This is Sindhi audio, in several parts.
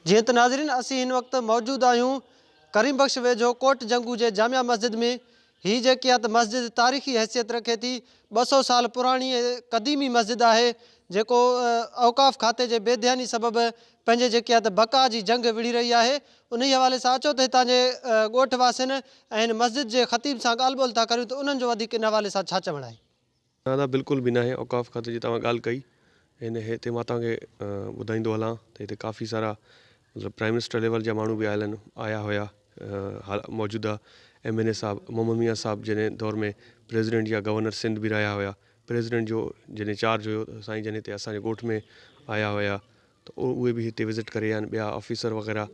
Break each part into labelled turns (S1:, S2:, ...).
S1: جيئن ته ناظرين اسين هن وقت موجود آهيون ڪريم بخش ويجهو ڪوٽ جنگو جي جامع مسجد ۾ هي جيڪي آ ته مسجد تاريخي حيثيت رکي ٿي ٻه سؤ سال پراڻي ۽ قديمي مسجد آهي جيڪو اوقاف کاتي جي بي ڌياني سبب پنهنجي جيڪي آ ته بقا جي جنگ وڙهي رهي آهي انهي حوالي سان اچو ته هتان جي ڳوٺ واسين ۽ هن مسجد جي خطيب سان ڳالهه ٻولهه ٿا ڪريون ته انهن جو وڌيڪ ان حوالي سان ڇا چوڻ آهي. نه نه بلڪل به
S2: ناهي اوقاف کاتي جي توهان ڳالهه ڪئي هن هتي مان توهان کي ٻڌائيندو هلان ته هتي ڪافي سارا مطلب پرائيم منسٽر ليول جا ماڻهو به آيل آهن آيا هيا موجوده ايم اين اي صاحب محمد ميان صاحب جنهن دور ۾ پريزيڊنٽ يا گورنر سنڌ به رهيا هيا پريزيڊنٽ جو جڏهن چارج هيو سائين جن هتي اسان جي ڳوٺ ۾ آيا هيا ته اهي به هتي وزٽ ڪري ويا آهن ٻيا آفيسر وغيره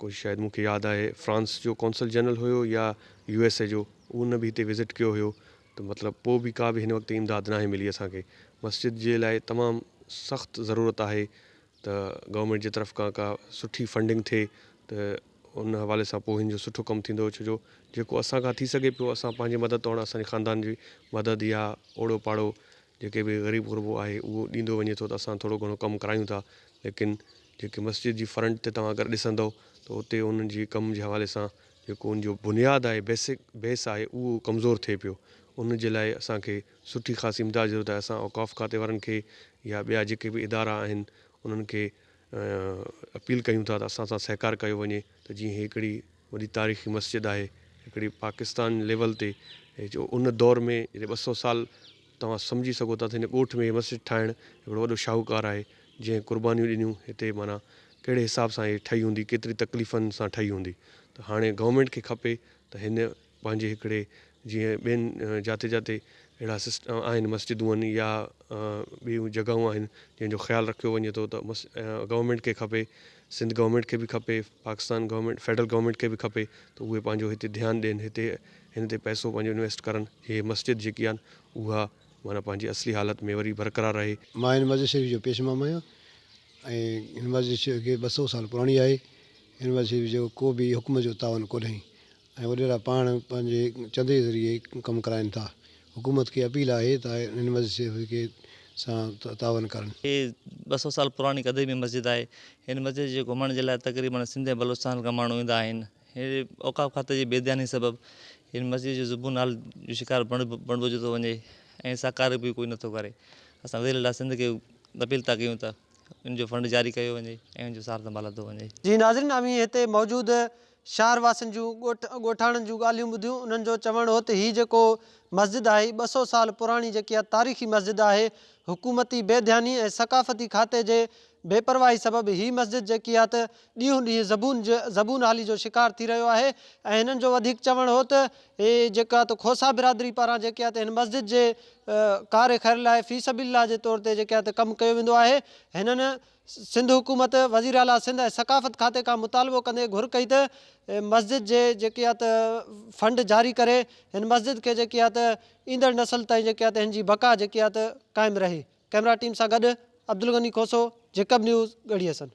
S2: ڪجهه شايد مون کي ياد آهي فرانس جو قونصل جنرل هيو يا يو ايس اي جو ان به هتي وزٽ ڪيو هيو ته مطلب پوء به ڪا به هن وقت امداد ناهي ملي اسان کي مسجد جي لاء تمام سخت ضرورت آهي ته گورنمينٽ جي طرف کان ڪا سٺي فنڊنگ ٿئي ته ان حوالي سان پوهين جو سٺو ڪم ٿيندو ڇو جو جيڪو اسان کان ٿي سگهي پيو اسان پنهنجي مدد توڻ اسان جي خاندان جي مدد يا اوڙو پاڙو جيڪي به غريب غربو آهي اهو ڏيندو وڃي ٿو ته اسان ٿورو گهڻو ڪم ڪرايون ٿا ليڪن جيڪي مسجد جي فرنٽ تي توهان اگر ڏسندؤ ته اتي انهن جي ڪم جي حوالي سان جيڪو ان جو بنياد آهي بيسڪ بيس آهي اهو ڪمزور ٿئي پيو ان جي لاء اسان کي سٺي خاصي امداد جي ضرورت آهي اسان اوقاف کاتي وارن کي يا ٻيا جيڪي به ادارا آهن انهن کي اپيل ڪيون ٿا ته اسان سان سهڪار ڪيو وڃي ته جيئن هڪڙي وڏي تاريخي مسجد آهي هڪڙي پاڪستان ليول تي جو ان دور ۾ جڏهن ٻه سؤ سال توهان سمجهي سگهو ٿا ته هن ڳوٺ ۾ هي مسجد ٺاهڻ هڪڙو وڏو شاهوڪار آهي جنهن قربانيون ڏنيون هتي معنيٰ ڪهڙي حساب سان هي ٺهي هوندي ڪيتري تڪليفن سان ٺهي هوندي ته هاڻي گورنمينٽ کي کپي ته هن پنهنجي هڪڙي جيئن ٻين جاتي جاتي اهڙا سسٽ آهن مسجدون آهن يا ٻيون جڳهون آهن جنهن جو خيال رکيو وڃي ٿو ته مس گورنمينٽ کي کپي سنڌ گورنمينٽ کي به کپي پاڪستان گورنمينٽ فيڊرل گورنمينٽ کي به کپي ته اهي پنهنجو هتي ڌيان ڏين هتي هن تي پئسو پنهنجو انويسٽ ڪرن جي هي مسجد جيڪي آهن اها معنيٰ پنهنجي اصلي حالت ۾ وري برقرار رهي. مان هن مسجد شريف جو
S3: پيش امام آهيان ۽ هن مسجد شريف کي ٻه سؤ سال پراڻي آهي هن مسجد شريف جو ڪو به حڪم جو تعاون ڪونهي ۽ وڏيرا پاڻ پنهنجي چندي ذريعي ڪم ڪرائين ٿا، حڪومت کي اپيل آهي ته هن مسجد کي سان تعاون ڪرن. هي ٻه سؤ
S4: سال پراڻي قديمي مسجد آهي. هن مسجد جي گهمڻ جي لاء تقريبن سنڌ ۽ بلوچستان کان ماڻهو ايندا آهن. اوقاف کاتي جي بي ڌياني سبب هن مسجد جو زبون حال جو شڪار بڻبجيو ٿو وڃي ۽ سا ڪاري به ڪوئي نٿو ڪري. اسان وزير اعليٰ سنڌ کي اپيل ٿا ڪيون ته ان جو فنڊ جاري ڪيو وڃي ۽ ان جو سار سنڀال ورتو وڃي. جي ناظرين اوهين هتي
S1: موجود شهر واسين جون ڳوٺ ڳوٺاڻن جون ڳالهيون ٻڌيون انهن جو چوڻ هو ته هي جيڪو مسجد آهي هي ٻه سؤ سال پراڻي جيڪي اها تاريخي مسجد آهي حڪومتي بي ڌياني ۽ ثقافتي کاتي جي بي پرواهي سبب هي مسجد جيڪي آهي ته ڏينهون ڏينهن زبون زبون حالي جو شڪار ٿي رهيو آهي ۽ هنن جو وڌيڪ چوڻ هو ته هي جيڪا آهي ته کوسا برادري پاران جيڪي آهي ته هن مسجد جي ڪار خير لاء في سبيل الله جي طور تي جيڪي آهي ته ڪم ڪيو ويندو آهي هنن سنڌ حڪومت وزيراعليٰ سنڌ ۽ ثقافت کاتي کان مطالبو ڪندي گهر ڪئي ته مسجد جي جيڪي آهي ته فنڊ جاري ڪري هن مسجد کي جيڪي آهي ته ايندڙ نسل تائين جيڪي آهي ته هن جي بقا جيڪي آهي ته قائم رهي ڪئميرا ٽيم سان گڏ عبدالغني کوسو جيڪب نيوز ڳڙهي حسن.